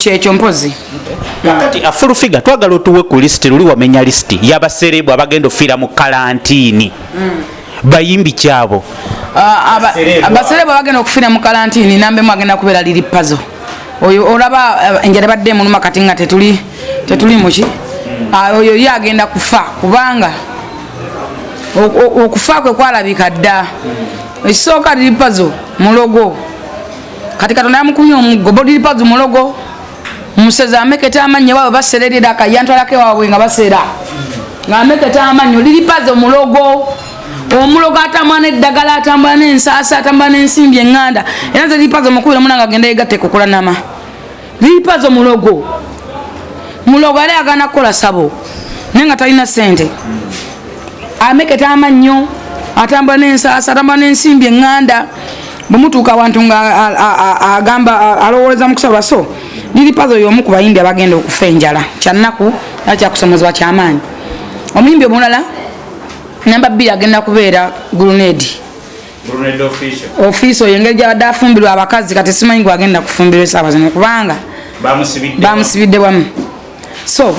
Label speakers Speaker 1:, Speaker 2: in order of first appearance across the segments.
Speaker 1: kyekyo mpozi kakati a
Speaker 2: full figure twagala otuwe ku list luli wamenya list yabaserebu abagenda ofiira mu kalantini mm. bayimbi kyabo
Speaker 1: abaserebu abagenda okufiira mu kalantini nambemu agenda kubeera liri pazo oyo olaba enjala badde emuluma kati nga tetuli tetuli muki ah, oyo ye agenda kufa kubanga okufa kwe kwalabika dda ekisooka liripazo mulogo kati katonda yamukumya omuggo boliripazo mulogo musezi ameketa amannyo bawe basererera akayantwalako ewaabwe nga basera nga ameketa amannyo liripazo mulogo omulogo atambula neddagala atambula nensaasa atambula nensimbi enganda era nze liripazo mukubira omuna nga agenda yegatte kukulanama lipazo mulogo mulogo yali agana kukola sabo naye nga talina sente ameketa amannyo atambula nensasa atambula nensimbi eŋŋanda bwemutuuka awantu nga agamba alowooleza mukusaba so liri pazo yomu ku bayimbi abagenda okufa enjala kyannaku era kyakusomozebwa kyamaanyi omuyimbi omulala namba bbiri agenda kubeera grunedi ofiisi oyo engeri gyabadde afumbirwa abakazi kati simanyi gwagenda kufumbirwa esaawa zino kubanga bamusibidde wamu so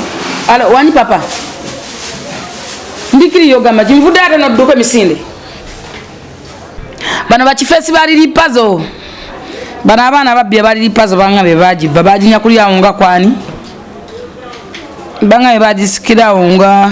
Speaker 1: alo wani papa ndikiriyo ogamba kinvudde ate nodduka emisinde bano bakifeesi baliri pazo bano abaana ababbya baliri pazo banga be bagibba baginyakulyawo nga kwani banga be bagisikirawo nga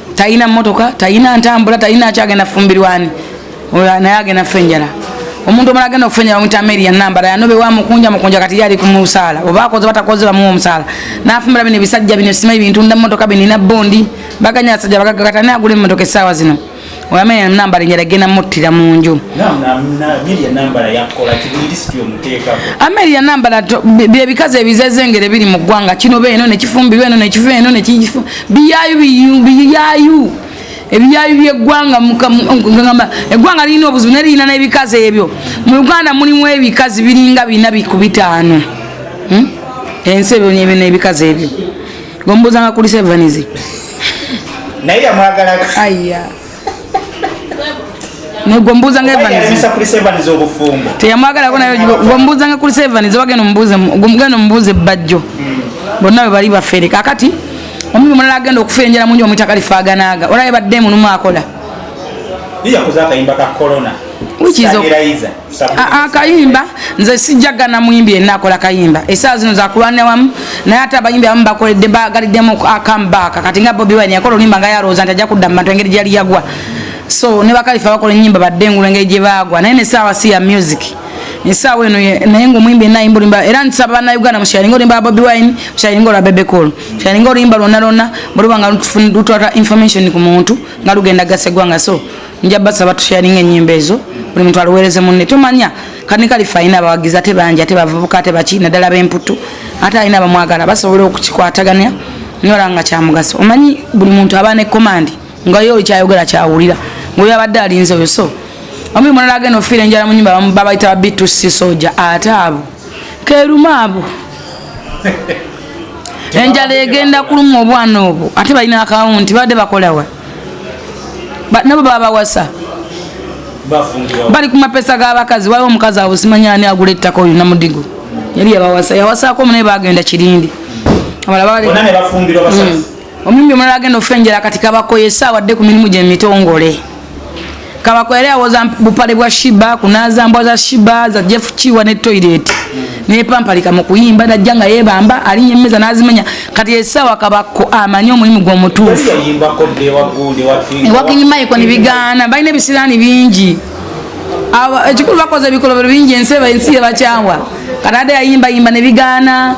Speaker 1: talina mmotoka talina ntambula talina akyagenda fumbirwani naye agenda kufa enjala omuntu omala agenda okufa enjala omuyita meri yanambala yanobe wamukunja mukunja kati yali kumusaala oba akoze batakoze bamuwa omusaala nafumbira bino ebisajja bino simanyi bintu nda mmotoka binina bondi baganya abasajja bagagakata naye agula emmotoka essaawa zino oyamanya nambala enjala genda muttira mu nju
Speaker 2: ameria nambala
Speaker 1: byebikazi ebizezengere biri mu ggwanga kino beeno nekifumbirwa eno nekiva eno nekifu biyayu biyayu ebiyayu byeggwanga mukagamba eggwanga lirina obuzibu naye lirina n'ebikazi ebyo mu uganda mulimu ebikazi biringa bina ku bitaano hmm? ensi ebyo nyebyo n'ebikazi ebyo gombuuzanga kuli sevanizi
Speaker 2: naye yamwagalaa
Speaker 1: negwombuuza nga
Speaker 2: teyamwagalako naye
Speaker 1: gwombuuza nga kuli sevani zewagenda omugenda omubuuza ebbajjo hmm. bonna bwe bali bafere kakati omuntu mulala agenda okufa enjala mungi omwitaka lifaganaaga olaba ebadde munumu akola akayimba ah, ah, nze sijjagana muyimbi yenna akola kayimba esaa zino zakulwanira wamu naye ate abayimbi abamu bakoledde bagaliddemu akambaaka kati nga bobi wine yakola oluyimba nga yalowooza nti ajja kudda mu bantu engeri gyali yagwa so ne bakalifa bakola ennyimba badde engulu engeri gye baagwa naye nesaawa si ya music esaawa eno naye ngaomuyimbi yenna ayimba olimba era nsaba banauganda musharinga olimba bobi wine musharinga olwa bebecol musharinga oluyimba lwonna lwonna bweluba nga lutwata information ku muntu nga lugenda gasegwanga so nja basaba tusharinga enyimba ezo buli muntu aluwereze munne tomanya kani kalifa alina abawagizi ate bangi ate bavubuka ate baki naddala b'emputtu ate alina bamwagala basobola okukikwatagania nyola nga kyamugaso omanyi buli muntu aba ne komandi nga yo oli kyayogera kyawulira ngaoyo abadde alinze oyo so omi mulala agenda ofiira enjala mu nyumba babayita ba bitusi soja ate abo keruma abo enjala egenda kuluma obwana obwo ate balina akawunti badde bakolawa nabo babawasa bali kumapesa gabakazi waliwo omukazi abusimanya ani agula ettaka oyo namudigo yali yabawasa yawasako munaye bagenda kirindi hmm. omumbi omulala agenda ofenjera kati kabakoye esaawa dde ku mirimu gyemitongole Kabako yali awoza bupale bwa Shiba kunaza mbwa za Shiba za Jeff Chiwa ne toilet ne pampalika mu kuyimba najja nga yebamba ali yemeza nazimenya kati esawa kabako amanyi omulimu gwo mutuufu ewakinyi maiko ni bigana balina ebisirani bingi ekikulu bakoze ebikolobero bingi ensi ensi yebakyawa kati ade yayimba yimba ne bigana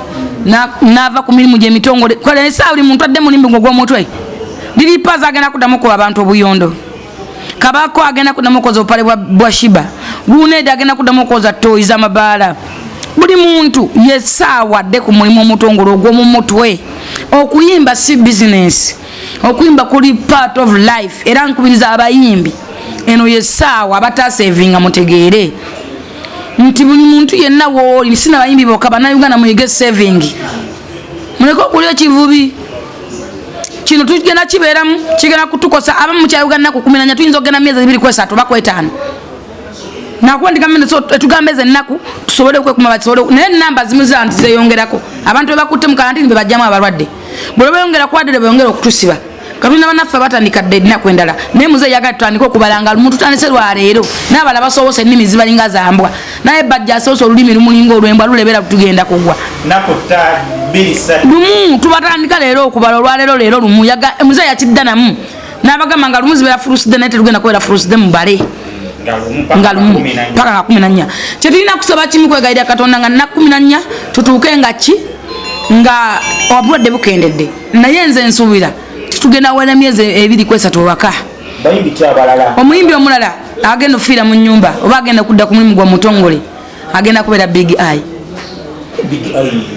Speaker 1: nava ku mirimu gyemitongole kale esawa buli muntu adde mulimbi gwo gwomutwe liripaza agenda kuddamu kuba abantu obuyondo kabako agenda kudamu okoza obupale bwa shiba gunedi agenda kudamu okoza toyi zamabaala buli muntu yesaawa adde ku mulimu omutongole ogwomu mutwe okuyimba si bizinesi okuyimba kuli part of life era nkubiriza abayimbi eno yesaawa abatasevinga mutegeere nti buli muntu yenna wooli sinabayimbi boka banauganda muyige saving muleke okulya ekivubi kino tugenda kibeeramu kigenda kutukosa abamu mukyayuganda kukuminanya tuyinza okugenda myezi ebiri kwesatu bakwetaano nakuba ndigambe etugambe eze ennaku tusobole okwekuma bakisobole naye enamba zimu zantu zeyongerako abantu bebakutte mu kalantini bebajjamu abalwadde bwebeyongera kwadde beyongera okutusiba katulina banaffe batandika dda edinaku endala naye muze yaga tutandika okubalanga lumu tutandise lwaleero nabala basobose ennimi zibalinga zambwa naye bajja asobose olulimi lumulinga olwembwa lulebera tugenda kugwa lumu tubatandika leero okubala olwaleero leero lumu muze yakidda namu nabagamba nga lumu zibeera furuside naye tetugenda kubeera furuside mubale nga lumu paka nga kumi nanya kyetulina kusaba kimu kwegayira katonda nga nakumi nanya tutuuke nga ki nga obulwadde bukendedde naye nze nsuubira titugenda wala myezi ebiri kwesatu ewaka omuyimbi omulala agenda okufiira mu nyumba oba agenda kudda ku mulimu gwa mutongole agenda kubeera big eye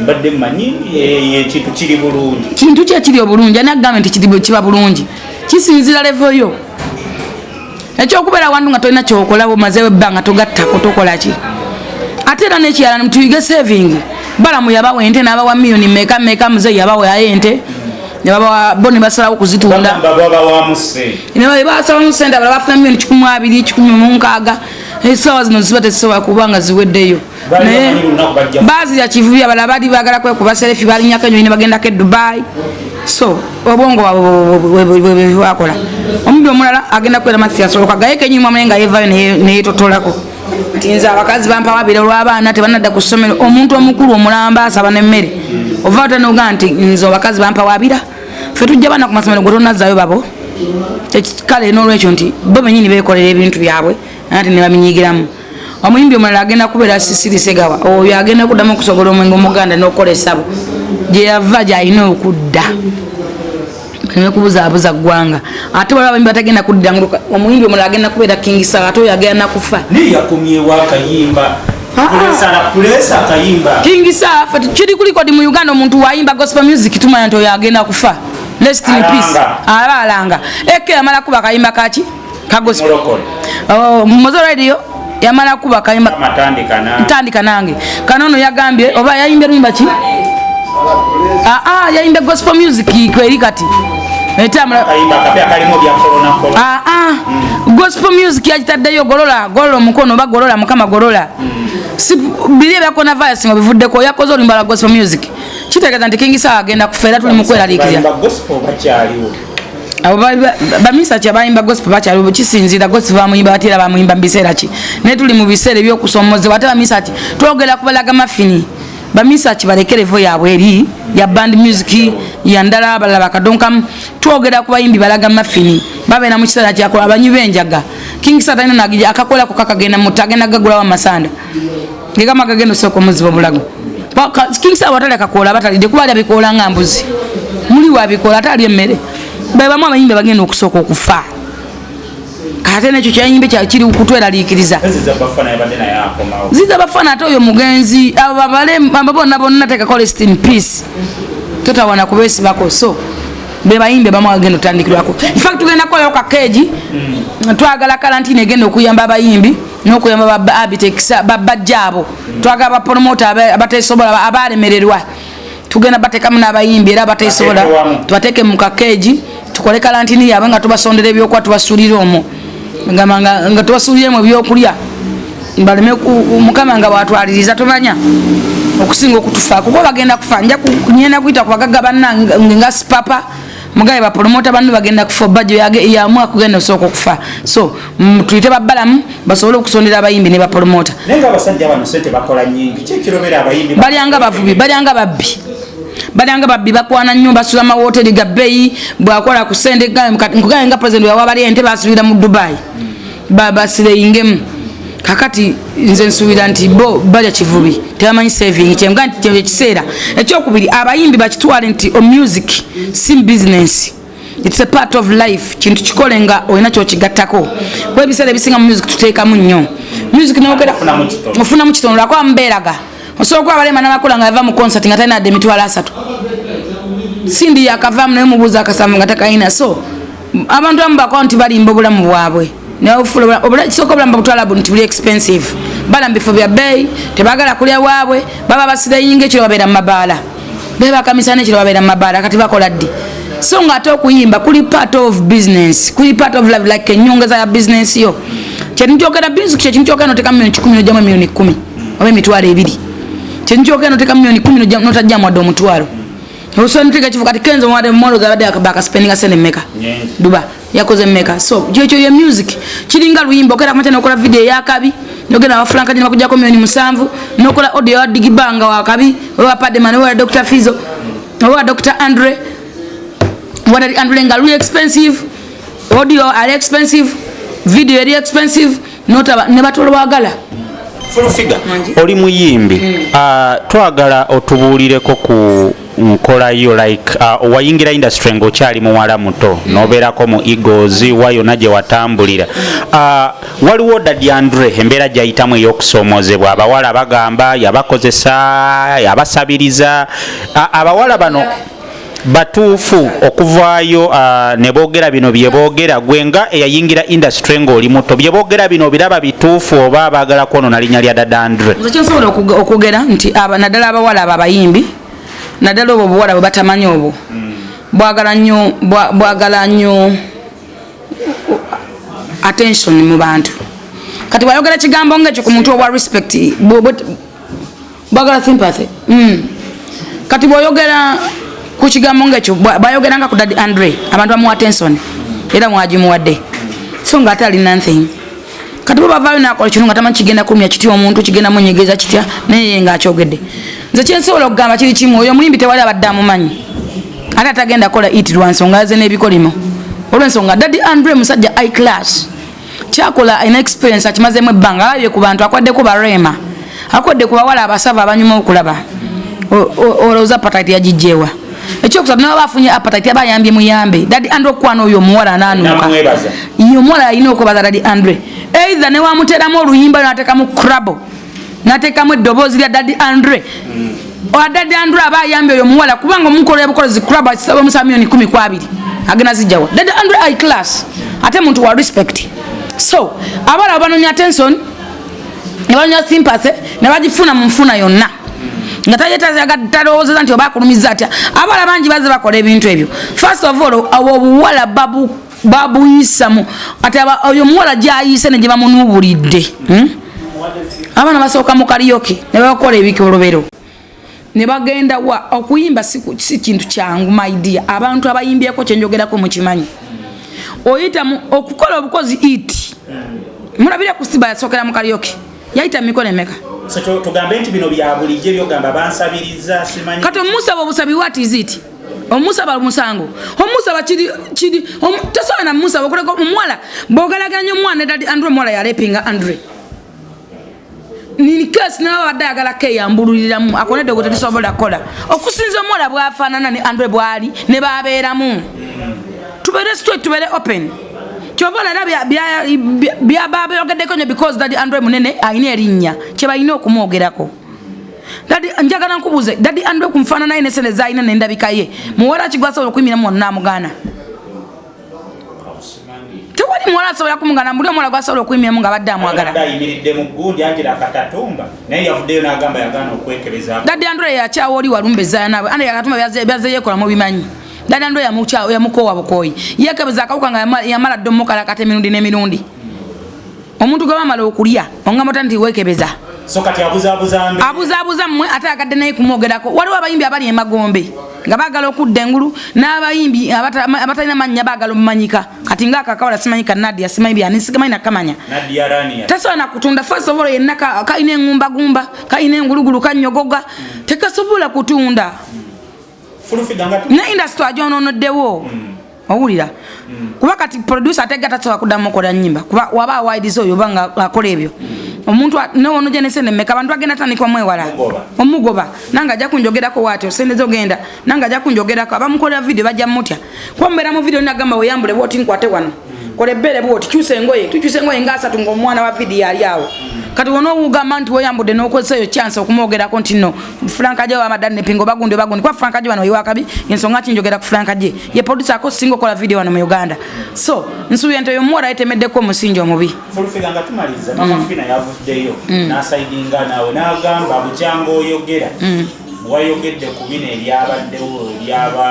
Speaker 2: mbadde manyi eh, ekintu kiri bulungi kintu ki ekiri obulungi
Speaker 1: ani akugambye nti kiba bulungi kisinzira levo yo ekyokubeera wantu nga tolina kyokolabo mazewo ebbanga togattako tokolaki ate era nekirala nimutuyige saving balamu yabawa ente nabawa miyoni meka meka muzeyi yabawa aye ente bo nebasalawo kuzitunda basalamu sente abala bafuna miyoni kikumi abiri kikumi munkaaga esawa zino ziba tezisobola kuba nga ziweddeyo naye baazi yakivubi abala bali bagala kwekuba serefi balinyako enyonyi nebagendako edubai so obwongo wabwewakola omubi omulala agenda kukwera mathiyasoloka gaye kenyini mwamune nga yevayo neyetotolako nti nze abakazi bampawabira olwabaana tebanadda ku ssomero omuntu omukulu omulamba asaba nemmere ova otanoga nti nze abakazi bampawabira fe tujja baana ku masomero gwe tonazayo babo kale nolwekyo nti bo benyini bekolera ebintu byabwe ate ne babinyigiramu omuyimbi omulala agenda kubeera sisiri segawa oyo agenda kuddamu okusobola omwenge omuganda n'okukola essabo gye yava gy'alina okudda baleme kubuzaabuza ggwanga ate waliwo abayimbi batagenda kuddira omuyimbi omulala agenda kubeera kingisa ate oyo agenda nakufa naye yakomyewo akayimba kingisa kiri kulikodi mu uganda omuntu wayimba gospel music tumanya nti oyo agenda kufa lest in peace aba alanga eke yamala kuba akayimba kaki oh, mumoze radio yamala kuba kayimba ntandika nange kana ono yagambye oba yayimbye luyimba ki aa ah, ah, yayimbye gospel music kweri kati etambula ah, ah. mm. gospel music yakitaddeyo golola golola omukono oba golola mukama golola mm. biri ebyakona virus nga bivuddeko yakoze olumba lwa gospel music kitegeeza nti kingisawa agenda kufa era tuli mukweralikira abo baminisita kyabayimba gospel bakyali kisinziira gospel bamuyimba batera bamuyimba mu biseera ki naye tuli mu biseera ebyokusoomozebwa ate baminisita ti twogera kubalaga mafini baminisita kibalekere vo yaabwe eri ya band music yandala abalala bakadonkamu twogera ku bayimbi balaga mafini babeera mu kiseera kyakola abanywi benjaga king satanagija akakolako kakagenda mutu agenda gagulawo amasanda ngegamba gagenda osooka omuziba obulago kingisa abatalya kakoola abatalidde kuba alya bikoola nga mbuzi muli wabikoola ate alya emmere bebamu abayimbi bagenda okusooka okufa ate nekyo kyayimbe kiri kutweraliikiriza ziza bafana ate oyo mugenzi abo bonna bonna tekakola estin peace totawana kubesibako so bebayimbi bamu agenda otandikirwako infact tugenda kukolayo kakeegi mm. twagala kalantini egenda okuyamba abayimbi nokuyamba baba abitex baba jabo twaga ba promoter abatesobola abalemererwa tugenda batekamu nabayimbi era abatesobola twateke mu kakeji tukole kalantini yaba nga tubasondera ebyokuba tubasulira omwo nga tubasulira mu byokulya baleme mukama nga watwaliriza tumanya okusinga okutufa kuba bagenda kufa nja kunyenda kuyita kubagaga banna nga sipapa mugabe bapolomota banno bagenda kufa obajo yamu akugenda osooka okufa so mm, tuyite babalamu basobole okusondera abayimbi ne bapolomota
Speaker 2: balyanga bavubi balyanga
Speaker 1: babbi balyanga babbi bakwana nnyo basula mawoteri gabbeyi bwakola ku sente nkugaye nga president wawabalya ente basubira mu dubai mm. babasireyingemu kakati nze nsuubira nti bo balya kivubi tebamanyi saving kyenga nti kyo ekiseera ekyokubiri abayimbi bakitwale nti o oh, music si business its a part of life kintu kikole nga olina kyokigattako kuba ebiseera ebisinga mu music tuteekamu nnyo music nogera ofunamu kitono lwakuba mubeeraga osobola okuba abalema namakula nga yava mu concert nga talina adde emitwalo asatu sindi yakavamu naye mubuuza akasamu nga takalina so abantu abamu bakola nti balimba obulamu bwabwe kisooka obulamu babutwalabu nti buli expensive bala mu bifo bya bbeeyi tebagala kulya waabwe baba basireyinga ekiro babeera mu mabaala bebakamisana ekiro babeera mu mabaala kati bakola ddi so nga ate okuyimba kuli part of business kuli part of love like enyongeza ya business yo kyetu kyogera business kye kintu kyogera noteka milioni 10 nojamu milioni 10 oba emitwalo ebiri kyetu kyogera noteka milioni 10 notajja mwadde omutwalo osanitiga kifu kati kenzo mwade mwalo gabade akabaka spending asene meka duba yakoze meka so kyo kyo ye music kiringa luyimbo kera kumata nokola video ya kabi nogena wa franka ni makuja komi ni musanvu nokola audio ya digibanga wa kabi wa pade man wa dr fizo wa dr andre wa andre ngalu expensive audio are expensive video are expensive notaba ne batolo bagala
Speaker 2: oli muyimbi hmm. ah, twagala otubuulireko ku nkola yo like ah, wayingira industry ngaokyali muwala muto hmm. nobeerako mu egos wa yona gye watambulira ah, waliwo dadi andre embeera gyayitamu ey'okusoomozebwa abawala bagamba yabakozesa yabasabiriza abawala bano batuufu okuvaayo uh, ne boogera bino bye boogera gwe nga eyayingira industry ng'oli muto bye boogera bino obiraba bituufu oba baagala kwonoona linnya lya dadandre kyensobola okwogera
Speaker 1: nti naddala abawala abo abayimbi naddala obwo obuwala bwe batamanyi obwo hmm. bwagala nnyo bwagala nnyo attention mu bantu kati bwayogera kigambo ngaekyo ku muntu obwa respect bagala sympathy mm. kati bwoyogera ku kigambo ngaekyo bayogeranga ku dadi andre abantu bamuwa tenson era mwagimuwadde so nga ate ali nothing kati bo bavayo nakola kino nga tamanyi kigenda kulumya kitya omuntu kigenda munyegeza kitya naye ye nga akyogedde nze kyensobola okugamba kiri kimu oyo omuyimbi tewali abadde amumanyi ate atagenda kola it lwa nsonga ze n'ebikolimo olwensonga dadi andre musajja i class kyakola alina experience akimazemu ebbanga alabye ku bantu akwaddeko bareema akodde ku bawala abasava abanyuma okulaba olowooza patati yagijjeewa ekyokusatu nawe bafunye apatit aba ayambye muyambe dadi andre okukwana oyo omuwala ananuka ye omuwala yalina okwebaza dadi andre eitha newamuteramu oluyimba natekamu crabo natekamu eddoboozi lya dadi andre mm. adadi andre aba ayambye oyo omuwala kubanga omukola yabukozi club akisaba omusa milioni kumi ku abiri agenda zijjawa dadi andre i class ate muntu wa respect so abala abanonya attention nebanonya sympathy nebagifuna mu nfuna yonna nga tayetazagatalowozeza nti oba akulumiza atya abala bangi baze bakola ebintu ebyo first of all awo obuwala babu babuyisamu kati oyo omuwala gyayise ne gye bamunuubulidde hmm? abaana basooka mu kaliyoke ne babakola ebikolobero ne bagenda wa okuyimba si kintu kyangu maidia abantu abayimbyeko kyenjogerako mukimanyi oyita okukola obukozi it mulabire ku siba yasookera mu kaliyoke yayita mu mikono emeka
Speaker 2: kati omusaba obusabi
Speaker 1: wat is it omusaba omusango omusaba kiri kiri tosobola na musaba okuleka omuwala bogalaganya omwana edadi andre omuwala yalepinga andre ninkesi nawe abadde ayagala keyambululiramu akonedde gwe tetusobola kukola okusinza omuwala bwafaanana ne andre bwali ne babeeramu tubere straight tubere open kyova olala byababeyogeddeko nyo because dadi andre munene alina erinnya kyebalina okumwogerako dadi njagala nkubuze dadi andwe kumfana naye nesene zaina nenda bikaye muwara kigwasa okuyimira mu na mugana tewali muwala asobola kumugana mbuli omuwala gwasobola okuyimira mu nga badde amwagala
Speaker 2: dadi andwe yakyawa
Speaker 1: oli walumbe zayanawe ande yakatuma byaze yekola mu bimanyi dadi andwe yamukyawa yamukowa bukoyi yekebeza akawuka nga yamala dde omukalakata emirundi n'emirundi omuntu gwe bamala okulya ongamba ota nti wekebeza so kati abuzabuza
Speaker 2: mbe abuzabuza
Speaker 1: mwe ate agadde naye kumwogerako waliwo abayimbi abali emagombe nga bagala okudda engulu n'abayimbi abatalina mannya bagala omumanyika kati nga akakawala simanyi ka nadia simanyi byani sigamanyi nakamanya tasobola nakutunda first of all yenna kalina engumbagumba kalina engulugulu kanyogoga tekasobola kutunda ne industry ajononoddewo mm. owulira mm. kuba kati producer atega tasobola kuddamu okola nyimba kuba waba awaidiza oyo oba nga akola ebyo mm. omuntu newonoja nesente meka abantu bagenda tandikwa mwewala omugoba nange ajja kunjogerako waati osente zogenda nange ajja kunjogerako abamukolera vidiyo bajja mutya kuba mubeera mu vidiyo nagamba weyambule bwoti nkwate wano kola ebbeere bwoti kyusa engoye tukyusa engoye nga asatu ngaomwana wa vidiyo ali awo kati wona owugamba nti weyambudde nokozesa eyo kyansi okumwogerako nti no franka gye wamadani nepingo bagundi bagundi kuba franka gye wano iwakabi ensonga ki njogera ku franka gye ye producer ako singa okola vidiyo wano mu uganda so nsuubira nti oyo omuwala yetemeddeko omusingi omubi
Speaker 2: mm. mm. wayogedde ku bino ebyabaddewo ebyaba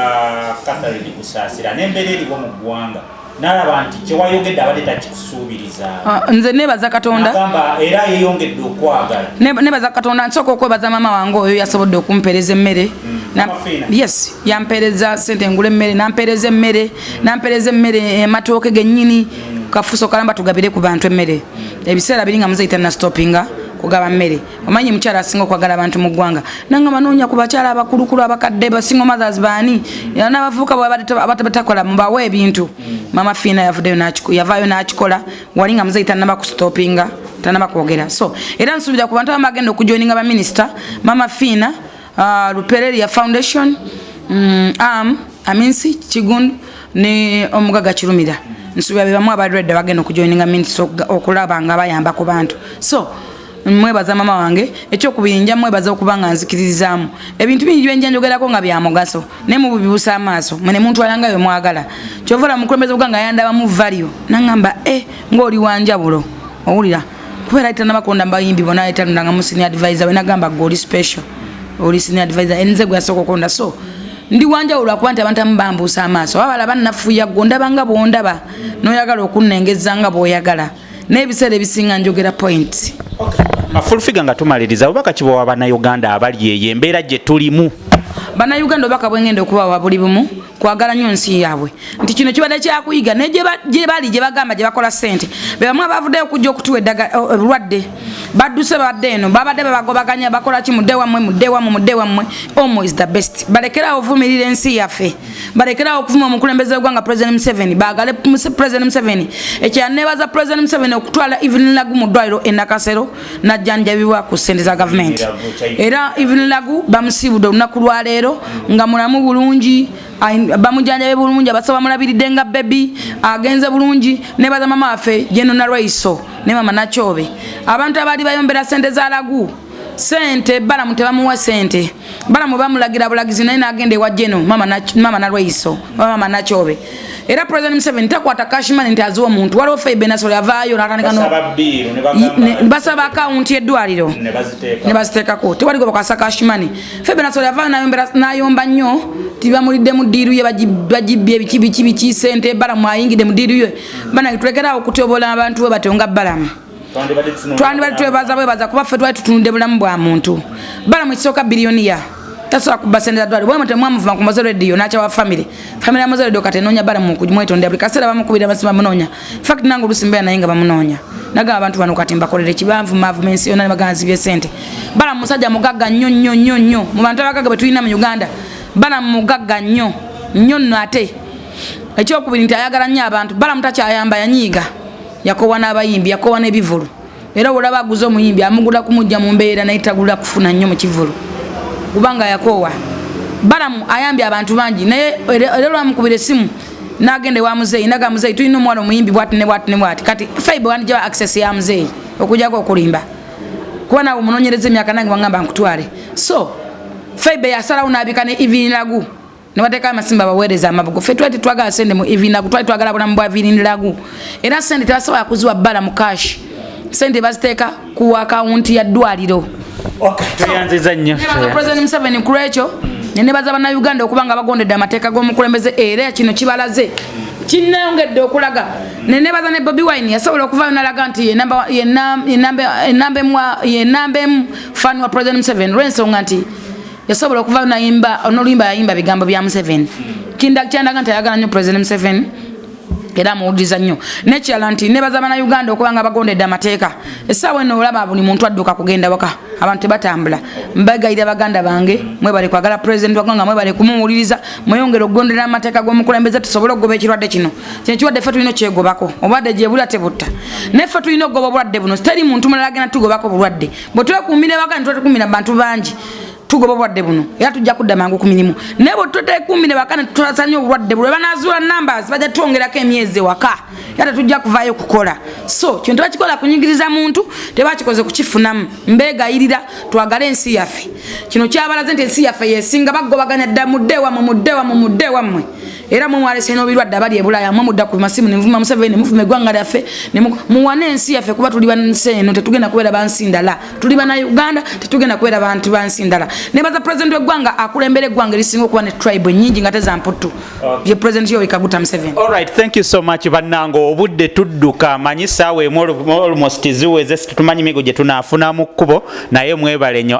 Speaker 2: Catherine Kusaasira n'embeera eriwo mu ggwanga nalaba nti kyewayogedde abadde takikusuubiriza ah, nze nebaza
Speaker 1: katonda era yeyongedde
Speaker 2: okwagala nebaza katonda
Speaker 1: nsooka okwebaza maama wange oyo yasobodde okumpeereza emmere mm. yes yampereza sente ngule emmere nampereza emmere nampereza emmere eh, matooke genyini kafuso kalamba tugabire ku bantu emmere ebiseera biri nga muzeyita nastopinga kugaba mmere omanyi mukyala asinga okwagala abantu mu ggwanga nanga manoonya ku bakyala abakulukulu abakadde basinga mothers baani nabavubuka bwabatakola mubawa ebintu mama fiina yavudeyo yavaayo n'akikola wali nga muzeyi tanaba kustopinga tanaba kwogera so era nsuubira ku bantu abamu bagenda okujoininga baminisita mama fiina uh, lupereria foundation um, am aminsi kigundu ne omugaga kirumira nsuubira bebamu abadredda bagenda okujoininga minisita okulaba nga bayamba ku bantu so mwebaza mama wange ekyokubiri nja mwebaza okuba nga nzikiririzaamu ebintu bingi byenja njogerako nga bya mugaso naye mububibusa amaaso mwene muntu alanga we mwagala kyovola mukulembeza buga nga yandabamu valio nangamba e eh, ngaoli wanjawulo owulira kubeera ayita nabakonda mbayimbi bona ayitanulanga mu senior advisor we nagamba gwe oli special oli senior advisor enze gwe yasooka okonda so ndi wanjawulo akuba nti abantu amu bambuusa amaaso wabala banafuya gwe ondabanga bwondaba noyagala okunnengezza nga bwoyagala naye ebiseera ebisinga njogera point okay. afulfiga
Speaker 2: nga tumaliriza obubaka kibawa bannayuganda abali eyo embeera gye tulimu bannayuganda
Speaker 1: obubaka bwengenda okubawa buli bumu kwagala nyo nsi yaabwe nti kino kibadde kyakuyiga naye gye bali gye bagamba gye bakola ssente bebamu abavuddeyo okujja okutuwa obulwadde eh, badduse babadde eno babadde bebagobaganya bakola ki mudde wammwe mudde wammwe mudde wammwe omo is the best balekerawo ovumirira ensi yaffe balekerawo okuvuma omukulembeze wegwanga president museveni bagale president museveni ekyanebaza president museveni okutwala evelyn lagu mu ddwaliro enakasero najjanjabibwa ku sente za gavumenti era evelyn lagu bamusiibudde olunaku lwaleero nga mulamu bulungi bamujanjabe bulungi abasa bamulabiridde nga bebi agenze bulungi nebaza mama waffe jenonalwaiso ne mama nakyobe abantu abaali bayombera sente za lagu sente balamu tebamuwa sente balamu bamulagira bulagizi naye nagenda ewa jeno mama nalweiso mama nakyobe era president museveni takwata cashman nti aziwa omuntu waliwo faibenasol avaayo basaba akawunti yeddwaliro nebaziteekako tewali gwe bakwasa cashman faibenasol avaayo nayomba nnyo tibamulidde mu diiru ye bagibbye ebikibikibiki sente balamu ayingidde mu diiru ye banange tulekerawo okutyobola abantu we batyo nga balamu twandibadde twebaza bwebaza kuba ffe twali tutunudde bulamu bwa muntu bala mu kisooka biliyoniya tasobola kubba sente zadwali bwemwe temwamuvuma ku moze radio nakyawa famire famire ya moze radio kati enoonya bala mu kumwetondera buli kaseera bamukubira basi bamunoonya fact nange oluusi mbeera naye nga bamunoonya nagamba abantu bano kati mbakolere kibanvumavuma ensi yona nebaganzibye sente bala musajja mugagga nnyo nnyo nnyo nnyo mu bantu abagagga betulina mu uganda bala mugagga nnyo nnyo nno ate ekyokubiri nti ayagala nnyo abantu bala mutakyayamba yanyiiga yakowa n'abayimbi yakowa n'ebivulu era olaba aguza omuyimbi amugula kumujja mu mbeera naye tagula kufuna nnyo mu kivulu kubanga yakowa balamu ayambye abantu bangi naye era lwamukubira esimu nagenda ewa muzeeyi naga muzeeyi tulina omuwala omuyimbi bwati ne bwati ne bwati kati faibe wandijaba access ya muzeeyi okujako okulimba kuba nawe omunonyereza emyaka nange wangamba nkutwale so faibe yasalawo nabika ne ivinilagu ne bateekayo amasimba baweereza amabugo ffe twali tetwagala sente mu evinagu twali twagala bulamu bwa viriniragu era sente tebasobola kuziwa bbala mu kashi sente baziteeka ku akawunti ya ddwaliro tweyanziza
Speaker 2: nnyo president museveni ku
Speaker 1: lwekyo nenebaza bannayuganda okuba nga bagondedde amateeka g'omukulembeze era kino kibalaze kinayongedde okulaga nenebaza ne bobi wine yasobola okuvayo nalaga nti yenamba emu fani wa president museveni lwensonga nti yasobola okuva nayimba noluyimba yayimba bigambo bya museveni kyandaga nti ayagala nyo president museveni era amuwuliriza nnyo nekirala nti nebaza bana uganda okuba nga bagondedde amateeka esaawa eno olaba buli muntu adduka kugenda waka abantu tebatambula mbagayira baganda bange mwebale kwagala president wagwanga mwebale kumuwuliriza mweyongere okugondera amateeka gomukulembeze tusobole okugoba ekirwadde kino kino kirwadde ffe tulina okyegobako obulwadde gyebulya tebutta naye ffe tulina okugoba obulwadde buno teri muntu mulala agenda tugobako bulwadde bwetwekumira waka netwetukumira bantu bangi tugoba obulwadde buno era tujja kudda mangu ku mirimu naye bwe tutekumbi ne bakana tutasanya obulwadde buno banazuula numbers bajja twongerako emyezi ewaka era tetujja kuvaayo kukola so kino tebakikola kunyigiriza muntu tebakikoze kukifunamu mbegayirira twagale ensi yaffe kino kyabalaze nti ensi yaffe yesinga bagobaganya dda mudde wamwe mudde wamwe mudde wamwe era mwe mwalese n'obirwadde abali ebulaya mwe mudda ku masimu nemuvuma museveni nemuvuma eggwanga lyaffe muwane ensi yaffe kuba tuli bansi eno tetugenda kubeera bansi ndala tuli bana uganda tetugenda kubera bantu bansi ndala nebaza president wegwanga akulembera egwanga erisinga okuba ne tribe nyingi nga teza mputtu ye president yo ikaguta mseven all right thank you so much
Speaker 2: banango obudde tudduka manyi sawe almost ziweze tumanyi migo gye tunafuna mu kubo naye mwebale nyo